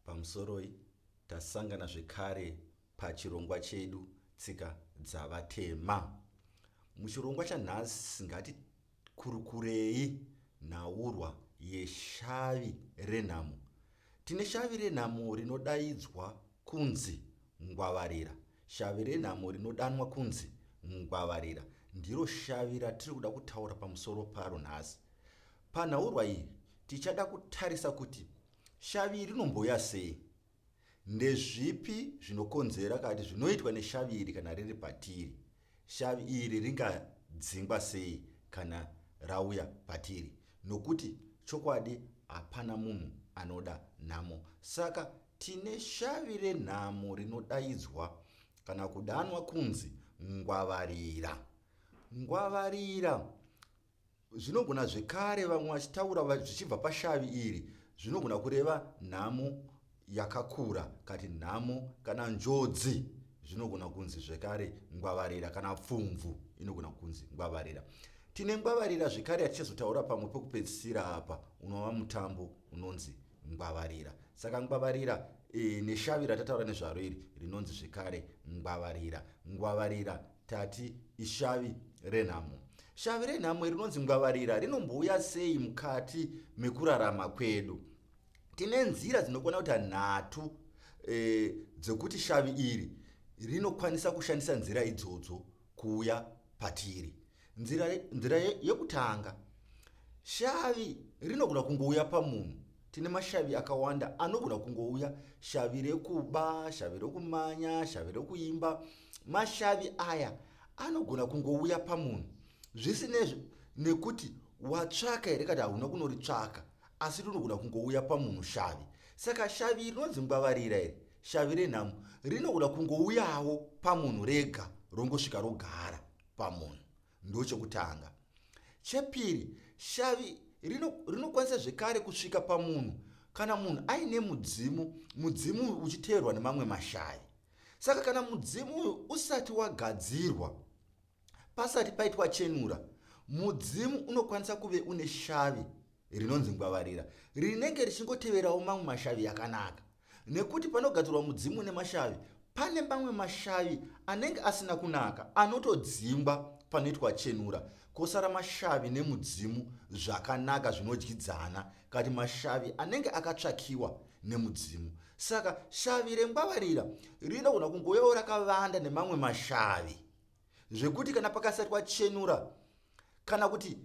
Pamusoroi, tasangana zvekare pachirongwa chedu Tsika Dzavatema. Muchirongwa chanhasi ngatikurukurei nhaurwa yeshavi renhamo. Tine shavi renhamo rinodaidzwa kunzi ngwavarira. Shavi renhamo rinodanwa kunzi ngwavarira ndiro shavi ratiri kuda kutaura pamusoro paro nhasi. Panhaurwa iyi tichada kutarisa kuti Shavi rinomboya sei? Ndezvipi zvinokonzera kana kuti zvinoitwa neshavi iri kana riri patiri? Shavi iri ringadzingwa sei kana rauya patiri? Nokuti chokwadi hapana munhu anoda nhamo. Saka tine shavi renhamo rinodaidzwa kana kudanwa kunzi ngwavarira. Ngwavarira Zvinogona zvekare vamwe vachitaura zvichibva pashavi iri zvinogona kureva nhamo yakakura kati nhamo kana njodzi zvinogona kunzi zvekare ngwavarira kana pfumvu inogona kunzi ngwavarira tine ngwavarira zvekare yatichazotaura pamwe pekupedzisira apa unova mutambo unonzi ngwavarira saka ngwavarira e, neshavi ratataura nezvaro iri rinonzi zvekare ngwavarira ngwavarira tati ishavi renhamo shavi renhamo iri rinonzi ngwavarira rinombouya sei mukati mekurarama kwedu tine nzira dzinokwana kuita nhatu e, dzekuti shavi iri rinokwanisa kushandisa nzira idzodzo kuuya patiri nzira, nzira yekutanga shavi rinogona kungouya pamunhu tine mashavi akawanda anogona kungouya shavi rekuba shavi rekumanya shavi rekuimba mashavi aya anogona kungouya pamunhu zvisinezvo nekuti watsvaka here kati hauna kunoritsvaka asi rinogona kungouya pamunhu shavi saka shavi iri rinonzi ngwavarira iri shavi renhamo rinogona kungouyawo pamunhu rega rongosvika rogara pamunhu ndochekutanga chepiri shavi rinokwanisa zvekare kusvika pamunhu kana munhu aine mudzimu mudzimu uchiteerwa nemamwe mashavi Saka kana mudzimu uyu usati wagadzirwa, pasati paitwa chenura, mudzimu unokwanisa kuve une shavi rinonzi ngwavarira rinenge richingoteverawo mamwe mashavi yakanaka nekuti panogadzirwa mudzimu une mashavi pane mamwe mashavi anenge asina kunaka anotodzingwa panoitwa chenura kosara mashavi nemudzimu zvakanaka zvinodyidzana kati mashavi anenge akatsvakiwa nemudzimu saka shavi rengwavarira rinogona kungoyawo rakavanda nemamwe mashavi zvekuti kana pakasatwa chenura kana kuti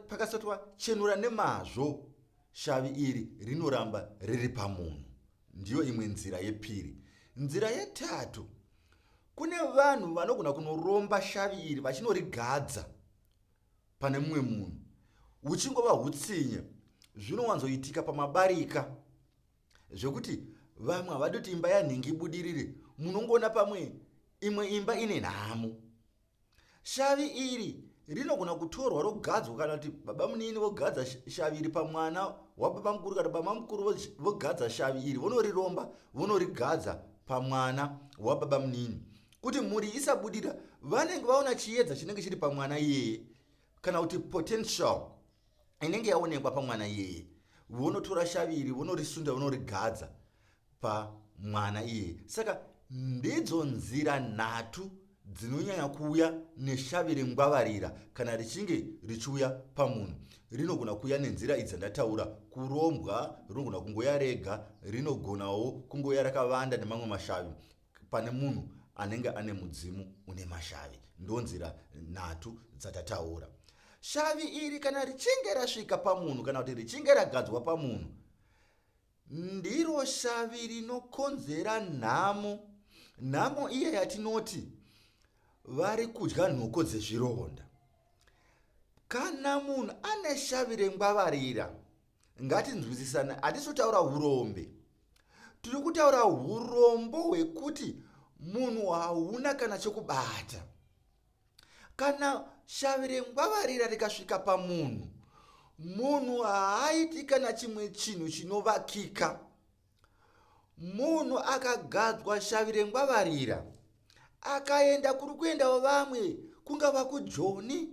pakasatwa chenura nemazvo shavi iri rinoramba riri pamunhu ndiyo imwe nzira yepiri nzira yetatu kune vanhu vanogona kunoromba shavi iri vachinorigadza pane mumwe munhu huchingova hutsinye zvinowanzoitika pamabarika zvekuti vamwe havadi kuti imba yanhingi ibudirire munongoona pamwe imwe imba ine nhamo shavi iri rinogona kutorwa rogadzwa kana kuti baba munini vogadza shavi iri pamwana wababa mukuru kana baba mukuru vogadza shavi iri vonoriromba vonorigadza pamwana wababa munini kuti mhuri isabudira vanenge vaona chiedza chinenge chiri pamwana iyeye kana kuti potential inenge yaonekwa pamwana iyeye vonotora shavi iri vonorisunda vonorigadza pamwana iyeye saka ndidzo nzira nhatu dzinonyanya kuuya neshavi rengwavarira kana richinge richiuya pamunhu rinogona kuuya nenzira idzi dzandataura kurombwa rinogona kungoya rega rinogonawo kungoya rakavanda nemamwe mashavi Pane munhu anenge ane mudzimu une mashavi. Ndonzira nhatu dzatataura. Shavi iri kana richinge rasvika pamunhu kana kuti richinge ragadzwa pamunhu ndiro shavi rinokonzera nhamo. Nhamo iya yatinoti vari kudya nhoko dzezvironda. Kana munhu ane shavi rengwavarira ngatinzwisisane hatisi kutaura urombe tiri kutaura urombo hwekuti munhu hauna kana chokubata kana shavi rengwavarira rikasvika pamunhu munhu haaiti kana chimwe chinhu chinovakika munhu akagadzwa shavi rengwavarira akaenda kuri kuendawo vamwe kungava kujoni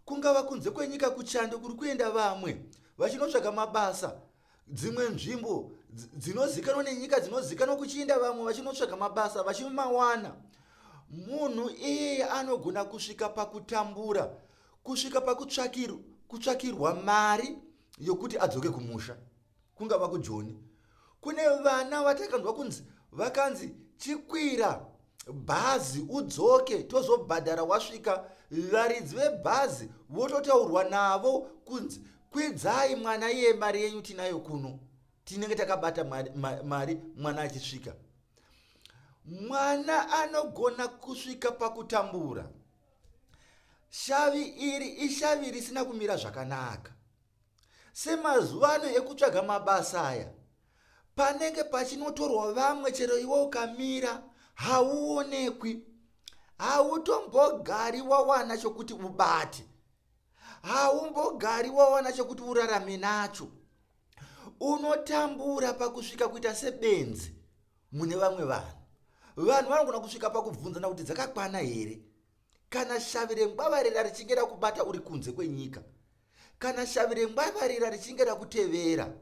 kungava kunze kwenyika kuchando kuri kuenda vamwe vachinotsvaga mabasa dzimwe nzvimbo dzinozikanwa nenyika dzinozikanwa kuchienda vamwe vachinotsvaga mabasa vachimawana munhu iyeye anogona kusvika pakutambura kusvika pakutsvakirwa mari yokuti adzoke kumusha kungava kujoni kune vana vatakanzwa kunzi vakanzi chikwira bhazi udzoke tozobhadhara wasvika varidzi vebhazi vototaurwa navo kunzi kwidzai mwana iye mari yenyu tinayo kuno tinenge takabata mari, mari mwana achisvika mwana anogona kusvika pakutambura shavi iri ishavi risina kumira zvakanaka Semazuva ano ekutsvaga mabasa aya, panenge pachinotorwa vamwe chero iwe ukamira hauonekwi. Hautombogari wawana chokuti ubate. Haumbogari wawana chokuti urarame nacho. Unotambura pakusvika kuita sebenzi mune vamwe vanhu. Vanhu vanogona kusvika pakubvunzana kuti dzakakwana here kana shavi rengwavare rarichinge rakubata uri kunze kwenyika. kana shavi rengwavarira richinge rakutevera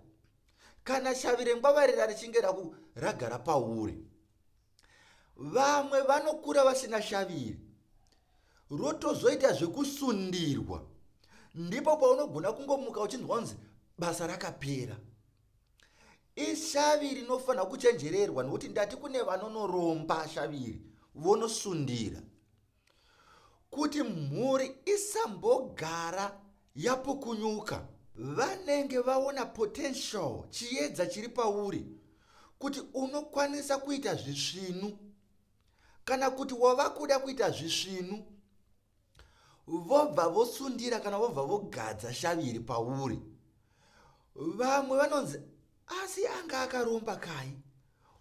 kana shavi rengwavarira richinge ragara pauri vamwe vanokura vasina shavi iri rotozoita zvekusundirwa ndipo paunogona kungomuka uchinzwa kunzi basa rakapera ishavi rinofanira kuchenjererwa nokuti ndati kune vanonoromba shaviri vonosundira kuti mhuri isambogara yapukunyuka. Vanenge vaona potential, chiedza chiri pauri, kuti unokwanisa kuita zvisvinu kana kuti wava kuda kuita zvisvinu, vobva vosundira kana vobva vogadza shavi iri pauri. Vamwe vanonzi Asi anga akaromba kai?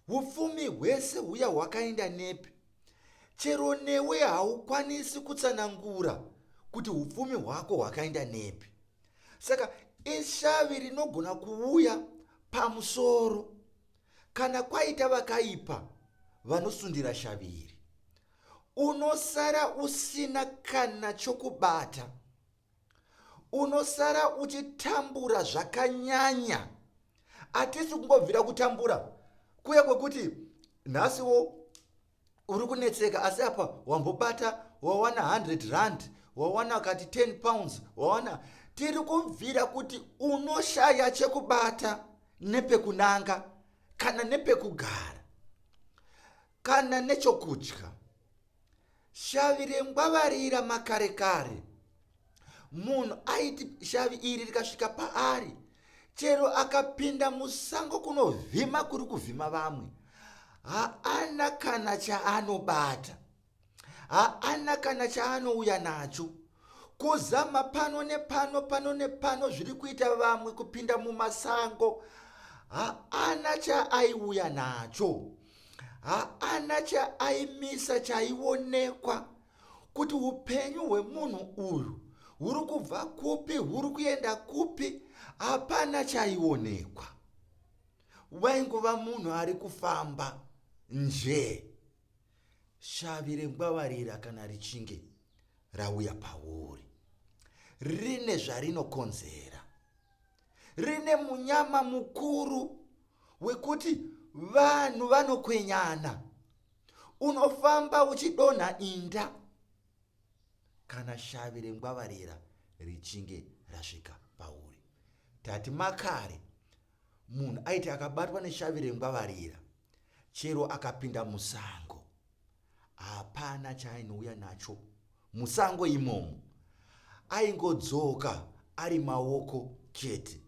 Upfumi hwese huya hwakaenda nepi? Chero newe haukwanisi kutsanangura kuti upfumi hwako hwakaenda nepi. Saka ishavi rinogona kuuya pamusoro kana kwaita vakaipa vanosundira shavi iri. Unosara usina kana chokubata. unosara uchitambura zvakanyanya atisi kungobvira kutambura kuye kwekuti nhasiwo uri kunetseka asi apa wambobata wawana 100 rand wawana kati 10 pounds wawana tiri kubvira kuti unoshaya chekubata nepekunanga kana nepekugara kana nechokudya Shavi rengwavarira makare kare. Munhu aiti shavi iri rikasvika paari chero akapinda musango kunovhima kuri kuvhima vamwe haana kana chaanobata haana kana chaanouya nacho kuzama pano nepano pano nepano zviri kuita vamwe kupinda mumasango haana chaaiuya nacho haana chaaimisa chaionekwa kuti upenyu hwemunhu uyu huri kubva kupi huri kuenda kupi hapana chaionekwa waingova munhu ari kufamba njee shavi rengwavarira kana richinge rauya pauri rine zvarinokonzera rine munyama mukuru wekuti vanhu vanokwenyana unofamba uchidonha inda kana shavi rengwavarira richinge rasvika pauri tati makare munhu aiti akabatwa neshavi rengwavarira chero akapinda musango Hapana chaainouya nacho musango imomo. Aingodzoka ari maoko chete.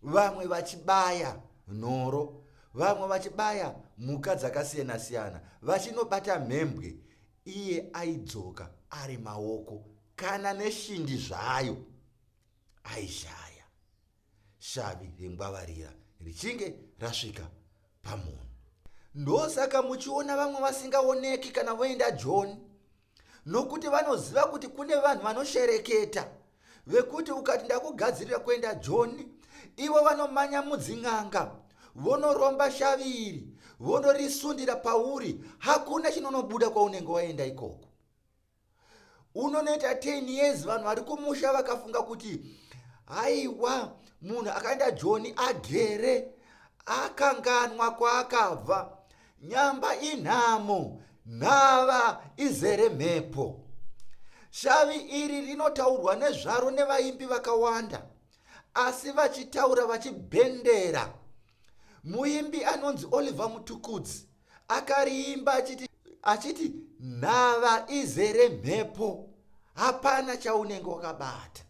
Vamwe vachibaya nhoro, vamwe vachibaya mhuka dzakasiyana siyana, vachinobata mhembwe, iye aidzoka ari maoko kana neshindi zvayo aishaya. shavi rengwavarira richinge rasvika pamunhu ndosaka muchiona vamwe vasingaoneki kana voenda joni nokuti vanoziva kuti kune vanhu vanoshereketa vekuti ukati ndakugadzirira kuenda joni ivo vanomanya mudzin'anga vonoromba shavi iri vonorisundira pauri hakuna chinonobuda kwaunenge waenda ikoko unonoita 10 years vanhu vari kumusha vakafunga kuti haiwa munhu akaenda joni agere akanganwa kwaakabva nyamba inhamo nhava izere mhepo shavi iri rinotaurwa nezvaro nevaimbi vakawanda asi vachitaura vachibhendera muimbi anonzi oliver mutukudzi akariimba achiti achiti nhava izere mhepo hapana chaunenge wakabata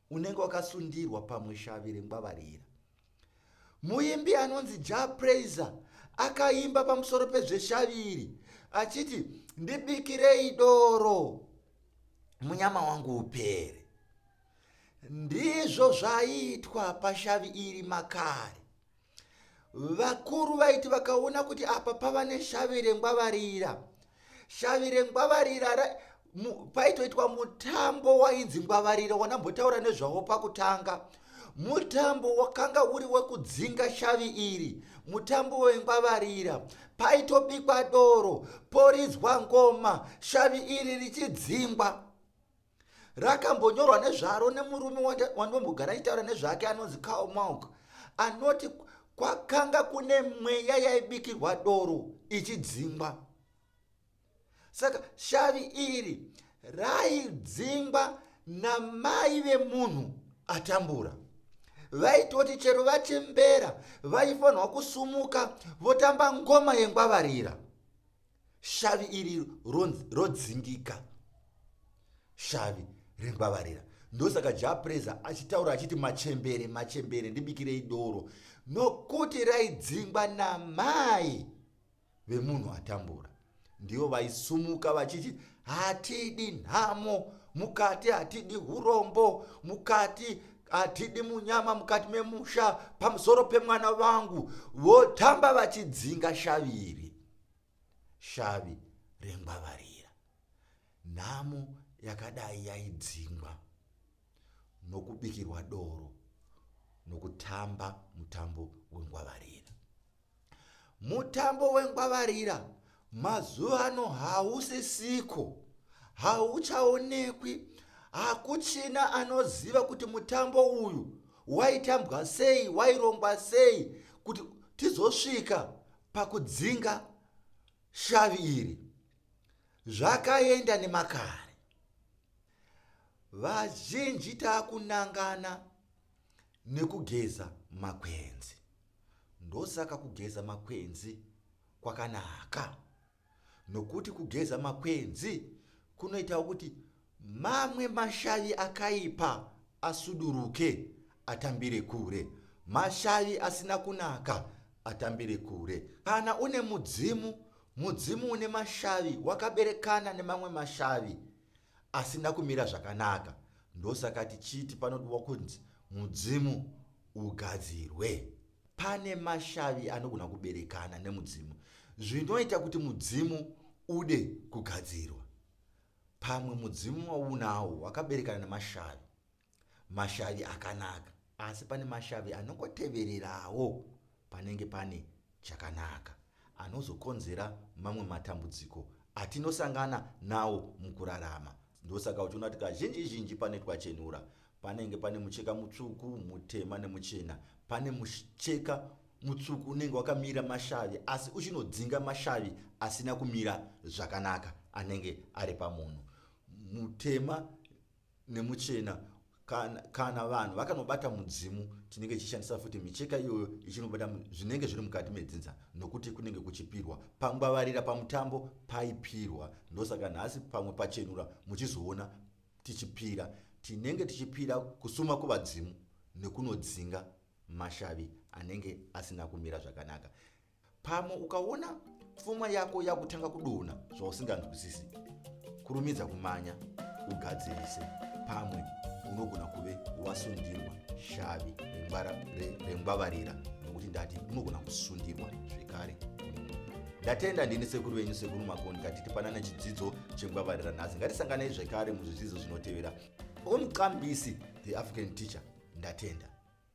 unenge wakasundirwa pamwe shavi rengwavarira muimbi anonzi ja praiser akaimba pamusoro pezveshavi iri achiti ndibikirei doro munyama wangu upere ndizvo zvaiitwa pashavi iri makare vakuru vaiti vakaona kuti apa pava neshavi rengwavarira shavi rengwavarira paitoitwa mutambo wainzi ngwavarira wanambotaura nezvawo pakutanga mutambo wakanga uri wekudzinga shavi iri mutambo wengwavarira paitobikwa doro poridzwa ngoma shavi iri richidzingwa Rakambonyorwa nezvaro nemurume wandombogara achitaura nezvake anonzi Karl Malk anoti kwakanga kune mweya yaibikirwa doro ichidzingwa. Saka shavi iri raidzingwa namai vemunhu atambura vaitoti chero vachembera vaifanirwa kusumuka votamba ngoma yengwavarira shavi iri rodzingika shavi rengwavarira ndosaka japreza achitaura achiti machembere machembere ndibikirei doro nokuti raidzingwa namai vemunhu atambura ndivo vaisumuka vachiti hatidi nhamo mukati hatidi urombo mukati hatidi munyama mukati memusha pamusoro pemwana vangu votamba vachidzinga shaviri shavi rengwavarira. Nhamo yakadai yaidzingwa nokubikirwa doro nokutamba mutambo wengwavarira. Mutambo wengwavarira mazuva ano hausisiko, hauchaonekwi, hakuchina anoziva kuti mutambo uyu waitambwa sei, wairongwa sei kuti tizosvika pakudzinga shavi iri zvakaenda nemakare vazhinji taakunangana nekugeza makwenzi ndosaka kugeza makwenzi kwakanaka nokuti kugeza makwenzi kunoitawo kuti mamwe mashavi akaipa asuduruke atambire kure, mashavi asina kunaka atambire kure. Kana une mudzimu, mudzimu une mashavi wakaberekana nemamwe mashavi asina kumira zvakanaka, ndosaka tichiti panodiwa kunzi mudzimu ugadzirwe. Pane mashavi anogona kuberekana nemudzimu zvinoita kuti mudzimu ude kugadzirwa. Pamwe mudzimu waunawo wakaberekana nemashavi, mashavi akanaka, asi pane mashavi anongotevererawo panenge pane chakanaka anozokonzera mamwe matambudziko atinosangana nawo mukurarama Ndosaka uchiona kuti kazhinji zhinji pane twachenura panenge pane mucheka mutsvuku, mutema nemuchena. Pane mucheka mutsvuku unenge wakamira mashavi asi uchinodzinga mashavi asina kumira zvakanaka anenge ari pamunhu. Mutema nemuchena kana, kana vanhu vakanobata mudzimu tinenge tichishandisa futi micheka iyoyo ichinobata zvinenge zviri mukati medzinza nokuti kunenge kuchipirwa pangwavarira pamutambo paipirwa ndosaka nhasi pamwe pachenura muchizoona tichipira tinenge tichipira kusuma kuvadzimu nekunodzinga mashavi anenge asina kumira zvakanaka Pamwe ukaona pfuma yako yakutanga kudona zvausinganzwisisi, kurumidza kumanya ugadzirise. Pamwe unogona kuve wasundirwa shavi rengwavarira, nokuti ndati unogona kusundirwa zvekare. Ndatenda ndini sekuru venyu sekuru Makoni katiti panana chidzidzo chengwavarira nhasi. Ngatisanganei zvekare muzvidzidzo zvinotevera. Omqambisi the African teacher ndatenda.